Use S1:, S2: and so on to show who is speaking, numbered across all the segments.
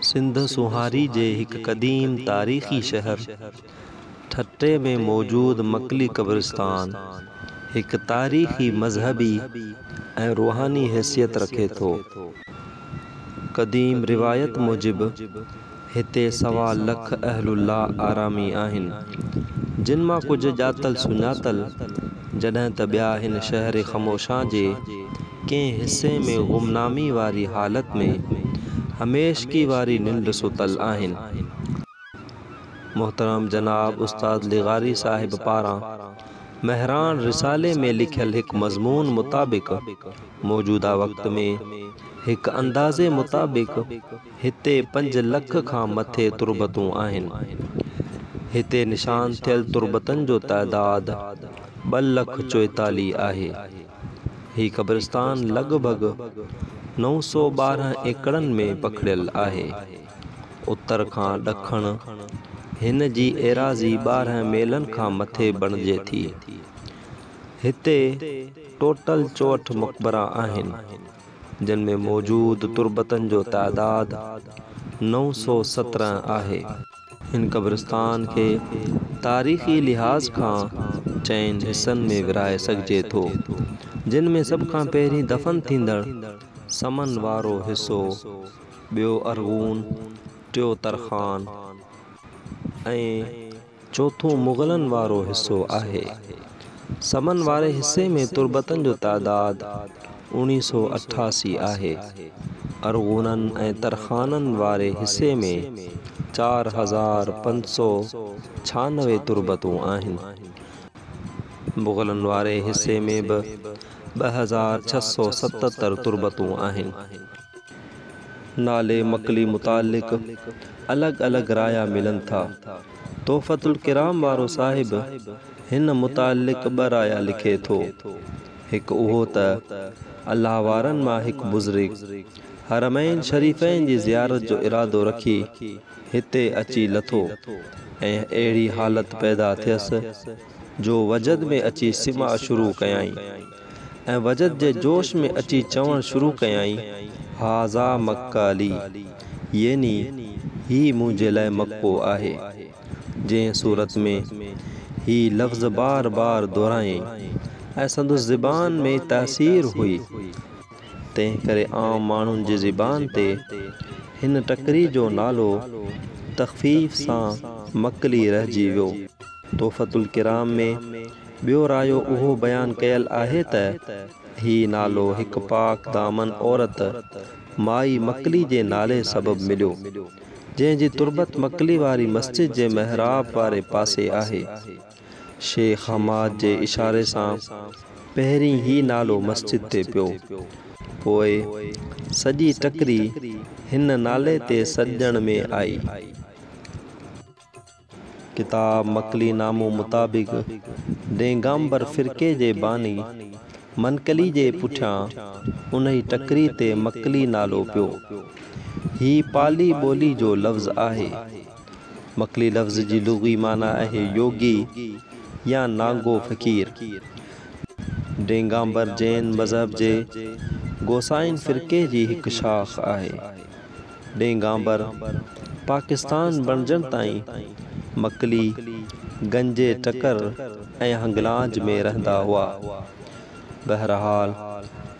S1: سنڌ سونهاري جي هڪ قديم تاريخي شهر ٺٽي ۾ موجود مڪلي قبرستان هڪ تاريخي، مذهبي ۽ روحاني حيثيت رکي ٿو. قديم روايت موجب هتي سوا لک اهل الله آرامي آهن، جن مان ڪجهه ڄاتل سڃاتل، جڏهن ته ٻيا هن شهر خموشان جي ڪنهن حصي ۾ غمنامي واري حالت ۾ هميشگي واري ننڊ ستل آهن. محترم جناب استاد لغاري صاحب پاران مهراڻ رسالي ۾ لکيل هڪ مضمون مطابق موجوده وقت ۾ هڪ اندازي مطابق، هتي پنج لک کان مٿي تربتون آهن. هتي نشان ٿيل تربتن جو تعداد ٻه لک چوئيتاليهه آهي. هي قبرستان لڳ ڀڳ نو سؤ ٻارهن ايڪڙن ۾ پکڙيل آهي. اتر کان ڏکڻ هن جي ايراضي ٻارهن ميلن کان مٿي بڻجي ٿي. هتي ٽوٽل چوهٺ مقبرا آهن. جن ۾ موجود تربتن جو تعداد نو سؤ سترهن آهي. هن قبرستان کي تاريخي لحاظ کان چئن حصن ۾ ورهائي سگهجي ٿو، جن ۾ سڀ کان پهرين دفن ٿيندڙ سمن وارو حصو، ٻيو ارغون، ٽيو ترخان ۽. چوٿون مغلن وارو حصو آهي. سمن واري حصي ۾ تربتن جو تعداد اوڻي سو اٺاسي آهي. ارغونن ۽ ترخانن واري حصي ۾ چار هزار پنج سو ڇهانوي تربتون آهن. مغلن واري حصي ۾ به ٻه هزار ڇهه سو ستتر تربتون آهن. نالي مڪلي متعلق الڳ الڳ رايا ملن ٿا. تحفة الڪرام وارو صاحب هن متعلق ٻه رايا لکي ٿو. هڪ اهو ته الله وارن مان هڪ بزرگ حرمين شريفين جي زيارت جو ارادو رکي هتي اچي لٿو ۽ اهڙي حالت پيدا ٿيس جو وجد ۾ اچي سماع شروع ڪيائين. ۽ وجد جي جوش ۾ اچي چوڻ شروع ڪيائين، هذا مڪه لي، يعني هي منهنجي لاء مڪو آهي. جنهن صورت ۾ هي لفظ بار بار دهرايائين ۽ سندس زبان ۾ تاثير هئي، تنهن ڪري عام ماڻهن جي زبان تي هن ٽڪري جو نالو تخفيف سان مڪلي رهجي ويو. تحفة الڪرام ۾ ٻيو رايو اهو بيان ڪيل آهي ته هي نالو هڪ پاڪ دامن عورت مائي مڪلي جي نالي سبب مليو، جنهن جي تربت مڪلي واري مسجد جي محراب واري پاسي آهي. شيخ حماد جي اشاري سان پهرين هي نالو مسجد تي پيو، پوء سڄي ٽڪري هن نالي تي سڏجڻ ۾ آئي. ڪتاب مڪلي نامو مطابق ڊيگامبر فرقي جي باني منقلي جي پٺيان انهي ٽڪري تي مڪلي نالو پيو. هي پالي ٻولي جو لفظ آهي. مڪلي لفظ جي لغوي معنيٰ آهي يوگي يا نانگو فقير. ڊيگامبر جين مذهب جي گوسائين فرقي جي هڪ شاخ آهي. ڏينگانبر پاڪستان بڻجڻ تائين مڪلي، گنجي ٽڪر ۽ هنگلاج ۾ رهندا هئا. بهرحال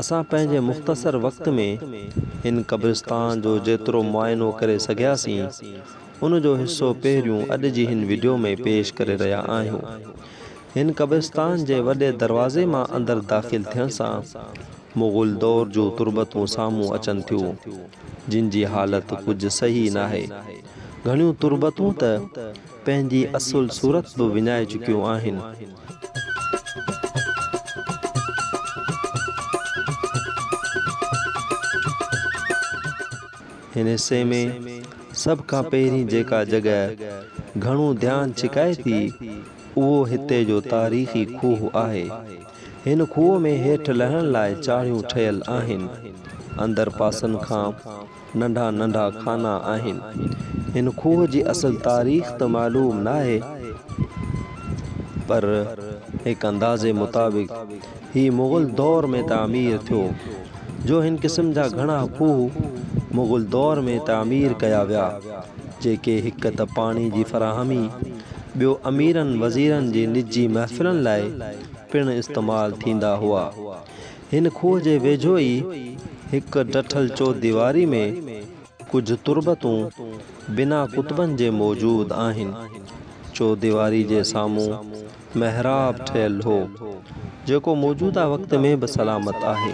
S1: اسان پنهنجي مختصر وقت ۾ هن قبرستان جو جيترو معائنو ڪري سگهياسين ان جو حصو پهريون اڄ جي هن وڊيو ۾ پيش ڪري رهيا آهيون. هن قبرستان جي وڏي دروازي مان اندر داخل ٿيڻ سان مغل دور جون تربتون سامهون اچن ٿيون، جن جي حالت ڪجهه صحيح ناهي. گهڻيون تربتون ته پنهنجي اصل صورت به وڃائي چڪيون آهن. هن حصي ۾ سڀ کان پهرين جيڪا جڳهه گهڻو ڌيان ڇڪائي ٿي، اهو هتي جو تاريخي کوهه آهي. هن کوهه ۾ هيٺ لهڻ لاء چاڙهيون ٺهيل آهن. اندر پاسن کان ننڍا ننڍا خانا آهن. هن کوهه جي اصل تاريخ ته معلوم ناهي پر هڪ اندازي مطابق هي مغل دور ۾ تعمير ٿيو جو هن قسم جا گهڻا کوهه مغل دور ۾ تعمير ڪيا ويا جيڪي هڪ ته پاڻي جي فراهمي ٻيو اميرن وزيرن جي نجي محفلن لاء پڻ استعمال ٿيندا هئا. هن کوهه جي ويجهو ئي هڪ ڊٺل چوديواري ۾ ڪجهه تربتون بنا ڪتبن جي موجود آهن. چوديواري جي سامهون محراب ٺهيل هو، جيڪو موجوده وقت ۾ به سلامت آهي.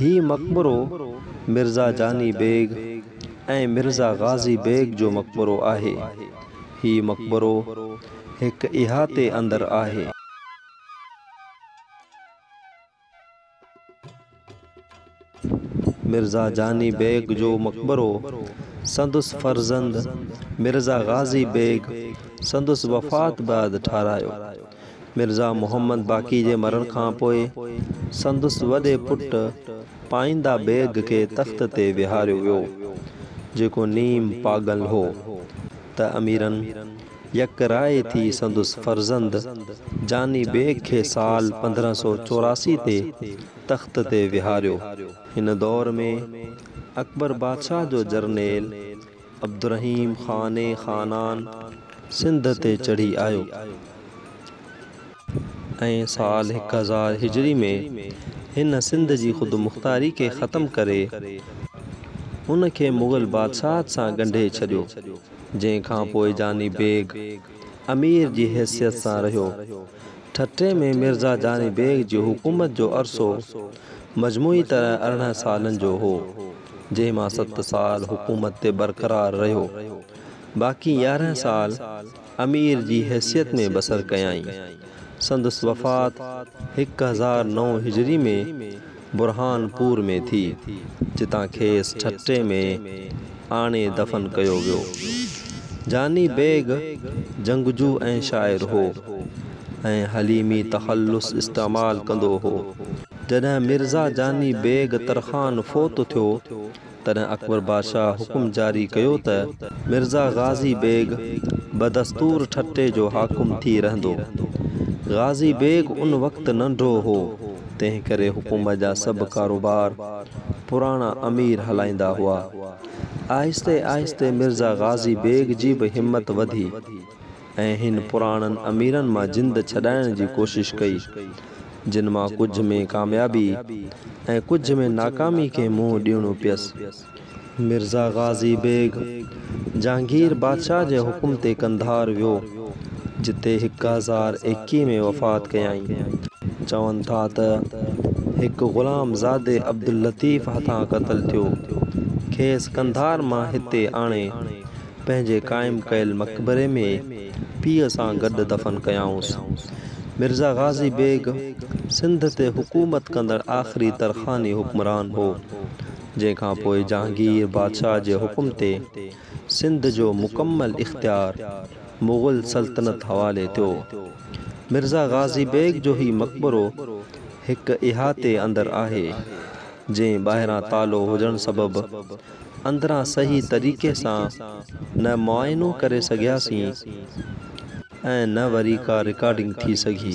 S1: هي مقبرو مرزا جاني بيگ ۽ مرزا غازي بيگ جو مقبرو آهي. هي مقبرو هڪ احاطي اندر آهي. مرزا جاني بيگ جو مقبرو سندس فرزند مرزا غازي بيگ سندس وفات بعد ٺاهرايو. مرزا محمد باقي جي مرڻ کان پوء سندس وڏي پٽ پائينده بيگ کي تخت تي ويهاريو ويو، جيڪو نيم پاڳل هو، ته اميرن يڪ راء ٿي سندس فرزند جاني بيگ کي سال پندرهن سؤ چوراسي تي تخت تي ويهاريو. هن دور ۾ اڪبر بادشاهه جو جرنيل عبدالرحيم خاني خانان سنڌ تي چڙهي آيو ۽ سال هڪ هزار هجري ۾ هن سنڌ جي خودمختاري کي ختم ڪري ان کي مغل بادشاهت سان ڳنڍي ڇڏيو جنهن کان پوء جاني بيگ امير جي حيثيت سان رهيو ٺٽي ۾ مرزا جاني بيگ جي حڪومت جو عرصو مجموعي طرح ارڙهن سالن جو هو. جنهن مان ست سال حڪومت تي برقرار رهيو، باقي يارهن سال امير جي حيثيت ۾ بسر ڪيائين. سندس وفات هڪ هزار نو هجري ۾ برهان پور ۾ ٿي، جتان کيس ٺٽي ۾ آڻي دفن ڪيو ويو. جاني بيگ جنگجو ۽ شاعر هو ۽ حليمي تخلص استعمال ڪندو هو. جڏهن مرزا جاني بيگ ترخان فوت ٿيو، تڏهن اڪبر بادشاهه حڪم جاري ڪيو ته مرزا غازي بيگ بدستور ٺٽي جو حاڪم ٿي رهندو. غازي بيگ ان وقت ننڍو هو، تنهن ڪري حڪومت جا سڀ ڪاروبار پراڻا امير هلائيندا هئا. آهستي آهستي مرزا غازي بيگ جي به همت وڌي. ۽ هن پراڻن اميرن مان جند ڇڏائڻ جي ڪوشش ڪئي، جن مان ڪجهه ۾ ڪاميابي ۽ ڪجهه ۾ ناڪامي کي منهن ڏيڻو پيس. مرزا غازي بيگ جهانگير بادشاهه جي حڪم تي قنڌار ويو، جتي هڪ هزار ايڪيهه ۾ وفات ڪيائين. چون ٿا ته هڪ غلام زادي عبداللطيف هٿان قتل ٿيو، کيس قنڌار مان هتي آڻي، پنهنجي قائم ڪيل مقبري ۾ پيء سان گڏ دفن ڪيائونس. مرزا غازي بيگ سنڌ تي حڪومت ڪندڙ آخري ترخاني حڪمران هو، جنهن کان پوء جهانگير بادشاهه جي حڪم تي سنڌ جو مڪمل اختيار مغل سلطنت حوالي ٿيو. مرزا غازي بيگ جو هي مقبرو هڪ احاطي اندر آهي، جنهن ٻاهران تالو هجڻ سبب اندران صحيح طريقي سان نه معائنو ڪري سگهياسين ۽ نه وري ڪا رڪارڊنگ ٿي سگهي.